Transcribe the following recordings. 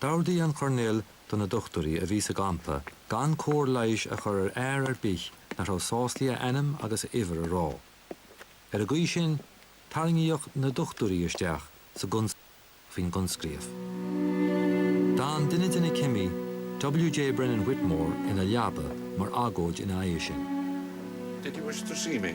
D'ordaigh an Coirnéal do na dochtúirí a bhí sa gcampa gan cóir leighis a chur ar fhear ar bith nach raibh sásta a ainm agus a uimhir a rá. Ar an gcaoi sin, tarraingíodh na dochtúirí isteach sa gconspóid faoin gcoinscríobh. D'fhan duine de na cimí, W.J. Brennan-Whitmore, ina leaba mar agóid ina aghaidh sin. Did you wish to see me?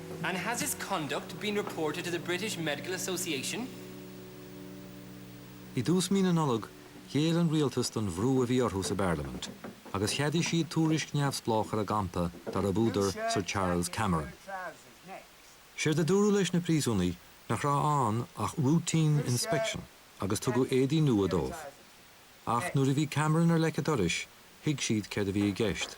And has his conduct been reported to the British Medical Association? I dtús mí na Nollag, ghéill an rialtas don bhrú a bhí orthu sa bparlaimint, agus cheadaigh siad tuairisc neamhspleách ar an gcampa darb údar Sir Charles Cameron. Séard a dúradh leis na príosúnaigh nach raibh ann ach routine inspection agus tugadh éadaí nua dóibh. Ach nuair a bhí Cameron ar leic a dorais, thuig siad céard a bhí i gceist.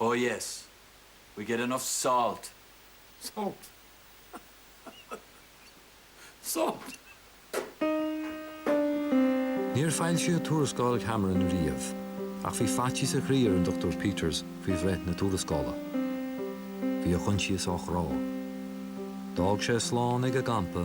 Oh yes. We get enough salt. Salt. Salt. Níor foilsíodh tuarascáil Cameron riamh, ach bhí faitíos a chroí ar an Dr Peters faoi bhreith na tuarascála. Bhí a choinsias á chrá. D'fhág sé slán ag an gcampa,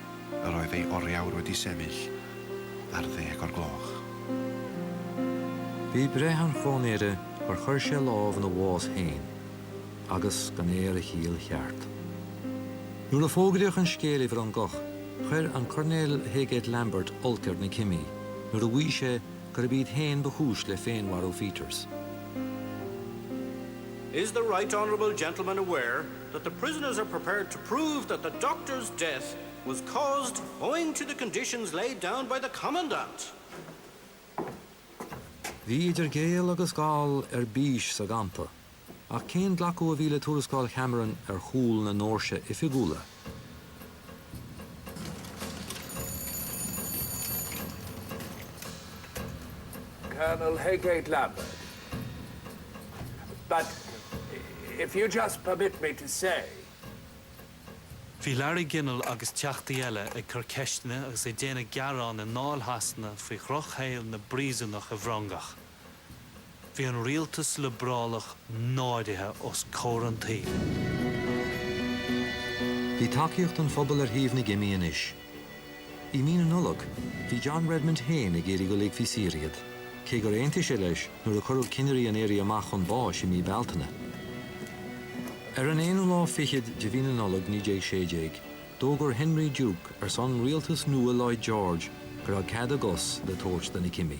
a raibh a fhormheabhair Uí Seimill ar ddeg o'r gloch. Bhí breith an chróinéara gur chuir sé lámh ina bhás fhéin agus gan é ar a chiall cheart. Nuair a fógraíodh an scéal i bhFrongoch, chuir an Coirnéal Heygate Lambert olc ar na cimí nuair a mhaígh sé gurb iad fhéin ba chúis le féinmharú Pheters. Is the Right Honourable Gentleman aware that the prisoners are prepared to prove that the doctor's death was caused owing to the conditions laid down by the Commandant. Bhí idir Gael agus Gall ar bís sa gcampa, ach cén glacadh a bhí le tuarascáil Cameron ar chúl na ndoirse oifigiúla? Colonel Heygate Lambert, but if you just permit me to say. Bhí Larry Ginnell agus Teachtaí eile ag cur ceisteanna agus ag déanamh gearán i nDáil Shasana faoi dhrochshaol na bpríosúnach i bhFrongoch. Bhí an rialtas liobrálach náirithe os comhair an tsaoil. Bhí tacaíocht an phobail ar thaobh na gcimí anois. I Mí na Nollag, bhí John Redmond féin ag iarraidh go ligfí saor iad, cé gur aontaigh sé leis nuair a cuireadh cinnirí an Éirí Amach chun báis i Mí Bealtaine. Ar an aonú lá fichead de Mhí na Nollag 1916, d'fhógair Henry Duke ar son rialtas nua Lloyd George go raibh cead a gcos le tabhairt do na cimí.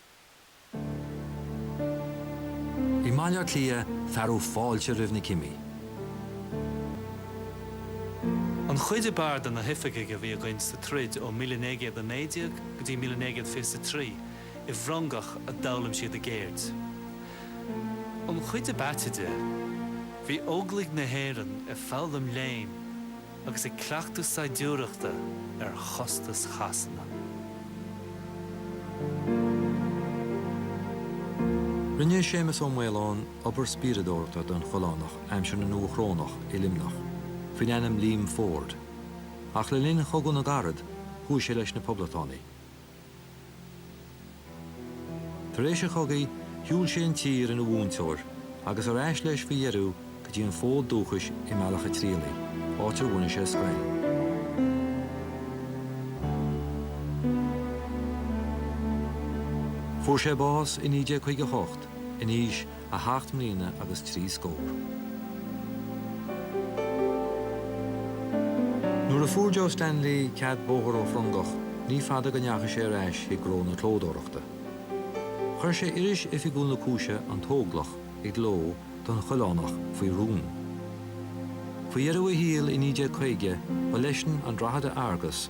I mBaile Átha Cliath fearadh fáilte roimh na cimí. An chuid ab fhearr de na hoifigigh a bhí againn sa troid ó míle naoi gcéad a naoi déag go dtí mile naoi gcéad fiche a trí, i bhFrongoch a d'fhoghlaim siad a gceird. An chuid ab aite de, bhí Óglaigh na hÉireann ag foghlaim léinn. agus ag cleachtadh saighdiúireachta ar chostas Shasana. Rinne Séamus Ó Maoileoin obair spíoradóireachta don Choileánach aimsir na nDúchrónach i Luimneach, faoin ainm Liam Forde, ach le linn Chogadh na gCarad chuaigh sé leis na Poblachtánaigh. Tar éis an chogaidh, shiúil sé an tír ina mhúinteoir agus ar ais leis faoi dheireadh go dtí an fód dúchais i mBealach an Tirialaigh, áit ar bhunaigh sé scoil. Fuair sé bás i 1958, in aois a sheacht mbliana agus trí scór. Nuair a fuair Joe Stanley cead bóthair ó Frongoch, ní fada go ndeachaigh sé ar ais chuig gnó na clódóireachta. Chuir sé iris oifigiúil na cúise, An tÓglach, i gcló don Choileánach faoi rún. Faoi dheireadh a shaoil i 1950, ba leisean an Drogheda Argus,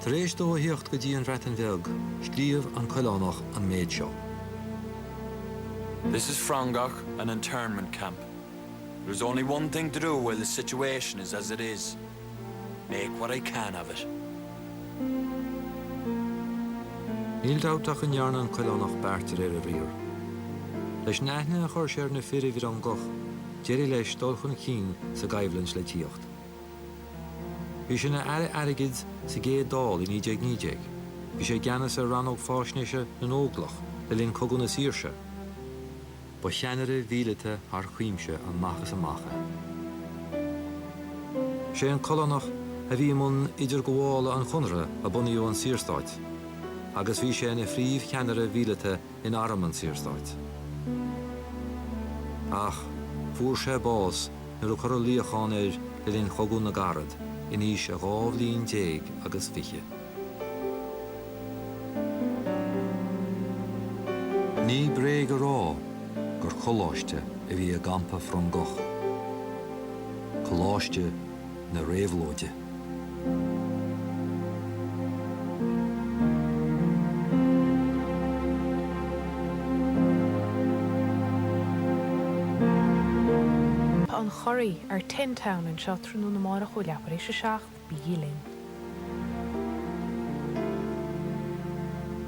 Tar éis dó a thíocht go dtí an Bhreatain Bheag, scríobh an Coileánach an méid seo. This is Frongoch, an internment camp. There is only one thing to do while the situation is as it is, make what I can of it. Níl dabht ach go ndearna an Coileánach beart de réir a bhriathair. Leis an aithne a chuir sé ar na fir i bhFrongoch, d'éirigh leis dul chun cinn sa gcoimhlint le tíocht. Bhí sé ina Aire Airgid sa gcéad Dáil i 1919. Bhí sé i gceannas ar Rannóg Faisnéise na nÓglach le linn Cogadh na Saoirse. Ba cheannaire míleata thar cuimse amach is amach é. Sé an Coileánach a bhí i mbun idirghabhála an Chonartha a bunaíodh an Saorstát agus bhí sé ina phríomh-cheannaire mhíleata in arm an tSaorstáit. Ach fuair sé bás nuair a cuireadh luíochán air le linn Chogadh na gCarad in aois a dhá bhliain déag agus fiche. Ní bréag a rá gur coláiste a bhí i gcampa Frongoch, coláiste na réabhlóide. Tá an Churraigh ar Tin Town anseo tráthnóna amárach ó leath tar éis a seacht. Bígí linn!